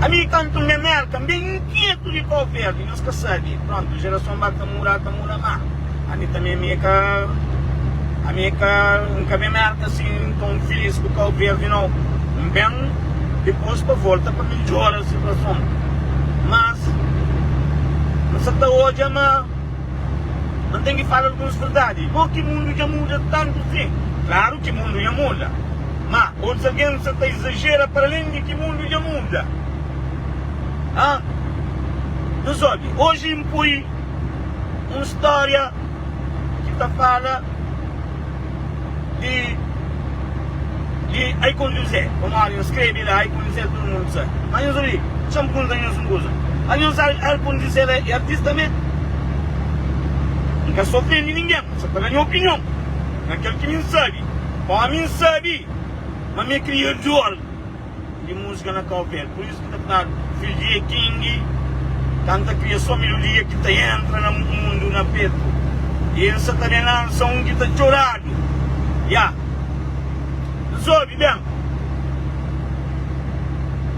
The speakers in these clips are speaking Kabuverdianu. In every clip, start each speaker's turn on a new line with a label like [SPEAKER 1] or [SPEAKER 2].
[SPEAKER 1] Ami kantu nha mer ka ben inkietu di kau ferdi nhos ka sabi prontu jerason ba ka muda ka muda ma ami tanbe ami ka ami ka n ka ben merka asin ton filis ku kau verdi no n ben dipos pa volta pa midjora situason mas n sa ta odja ma n ten ki fala alguns verdadi bo ki mundu dja muda tantu si klaru ki mundu dja muda Má, otus algen sta ta izajera paralén di ki mundu dja muda. A Nhos obi. Oji N poi un stória ki ta fala di di Ai Kon Juzé. Pamodi N skrebe la Ai Kon Juzé tudu mundu sa. Má nhos obi, dja N punta nhos un kuza. A Nhos acha Ai Kon Juzé la é artista mê? N ka sta ofende ningen, N sta ta da nha opinion na kel ki mi N sabe. Ó, mi N sabe ma mi kria diol di múzika na Kau Verde, pur isu ki ta fladu fidju di E Kingi ka N ta kria sô melodia ki ta entra na mundu na petu y N sa ta ben lansa un ki ta txoradu. Ya nhos obi ben,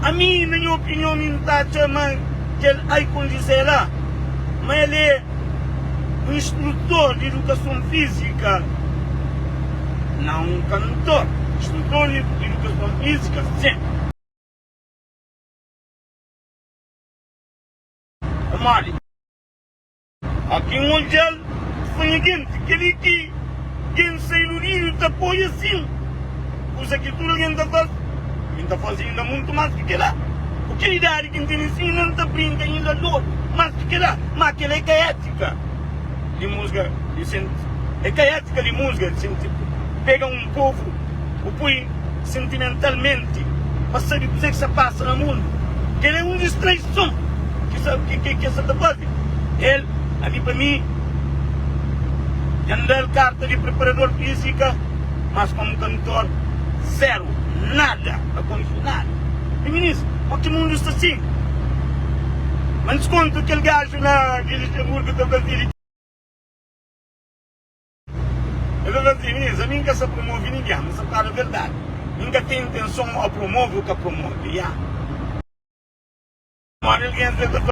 [SPEAKER 1] ami na nha opinion mi N ta atxa ma kel Ai Kondizela ma el é. Un instrutor di idukason fízika? Nau, un kantor. Instrutor di idukason fízika? Sen. Pamodi? Óki N odja-l, N fla, Nha genti, kel-li ki. Ken sa iludidu ta apoia sin kusa ki tudu algen ta faze. Mi N ta faze inda mutu más ki kel-la. Ku kel idadi ki N tene sin, N meste ta brinka inda dóru más ki kel-la. Má kel-la é ka étika di musga di senti. É ka étika di musga di senti pega un povu, bu poi sentimentalmenti pa sabe kuzê ki sa pasa na mundu. Kel-la é un distraison ki sa ki ki es sa ta faze. El ami pa mi. Dja N da-l karta di preparador fízika, mas komu kantor, zéru, nada, ka konxi nada. Di minis, pur ki mundu sta sin? Ma N diskonta kel gaju na di Luxemburgo ta fazia di txeu. El ta fazia, Minis, ami N ka sta promovi ningen, ma sa ta fala verdadi, mi N ka ten intenson ô promovi ô ka promovi. Ya. Pamodi algen ta fla.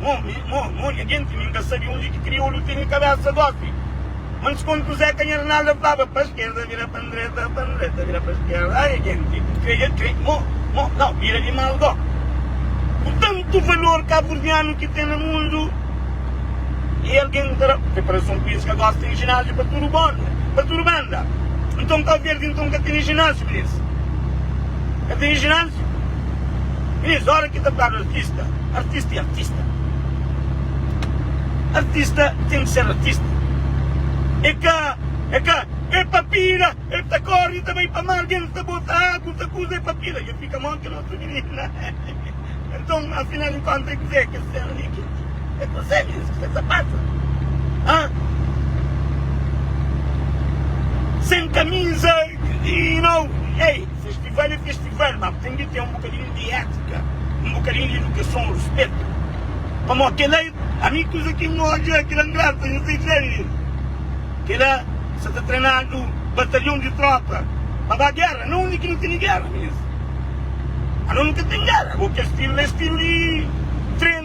[SPEAKER 1] Mo nha genti, mi N ka sabe undi ki kriolu tene kabesa gosi. Ma N diskonde ku Zeka nha Arnalda flaba, pa skerda vira pa ndreta, pa ndreta vira pa skerda. Ai nha genti, kreia krei, mo, mo, nau, bira di mal go. Ku tantu valor kaburdianu ki ten na mundu, i algen ta da preparason ku es ka gosi tene ginásio pa tudu bonda, pa tudu banda. Nton Kau Verdi nton ka tene ginásio, minis? Ka tene ginásio. Três óra ki ta fladu artista, artista é artista. Artista ten ki ser artista. É ka, é ka, é pa pira, el ta kóre, el ta bai pa mar, el ta bota agu, ta kuza, é pa pira. El fika monti na otu minina. Nton, afinal di kónta, é kuzê ki el ser li? Ki, é kuzê mésmu ki sta ta pasa? Ãh? Sen kamiza, you know, ei! Festival é festival, má ten di ten un bukadinhu di étika, un bukadinhu di idukason, ruspetu. Pamó kela é. Ami kuza ki N odja kela N grava N sai fla el li. Kela sa ta trenadu batalhon di trópa pa ba géra. Na undi ki nu tene géra mésmu? Anos nu ka ten géra. Bo kes tiru la é tiru di.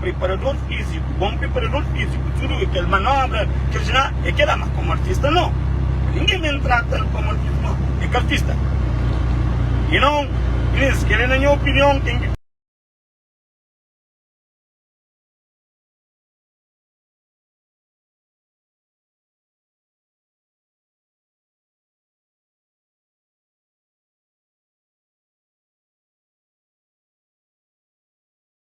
[SPEAKER 1] Preparador fíziku, bon preparador fíziku, tudu kel manobra, kel jiná, é kela. Má komu artista, nau. Ningen ben trata-l komu artista, nau. É ka artista. E nau, Inês, kel-li, na nha opinion, ten ki.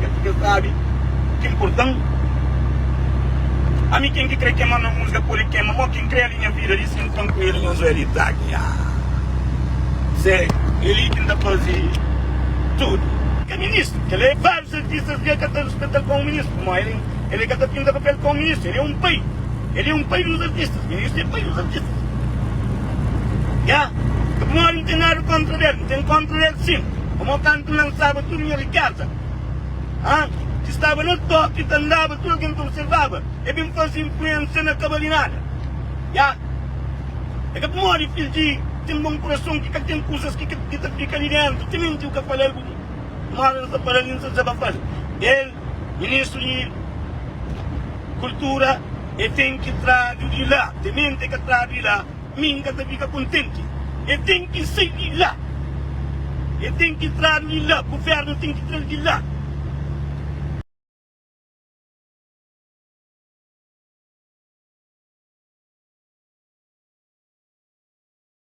[SPEAKER 1] É purk'el sabe o ki nportan Ami ken ki kre kema na musga pode kema Mo ken kre alinha vida li sen pan ku el Nhos Eli ta gia Zé Eli ki n'ta faze tudu Ke ministru kel é Vários artistas dja ka ta respetal pa un ministru Mo el el é ka ta pinta papel pa un ministru El é un pai El é un pai dos artistas Ministru é pai dos artistas Gia Pamodi n'ten nada kontra del N'ten kontra del sin Pamo kantu lansaba. Tudu nha rikéza, ha, ki staba na tóki, ta andaba, tudu algen ta observaba, e ben faze influénsia na ka bali nada. Ya, e ka pamodi fidju di ten bon kurason ki ka ten kuzas ki ka ki ta fika li déntu. Timenti bu ka fala-l bu bu, un óra nu ta fala-l i nu ta dizabafal. El, ministru di Kultura, e ten ki tradu di la. Timenti e ka tradu di la. Mi N ka ta fika kontenti. El ten ki sai di la. El ten ki tradu di la. Govérnu ten ki tra-l di la.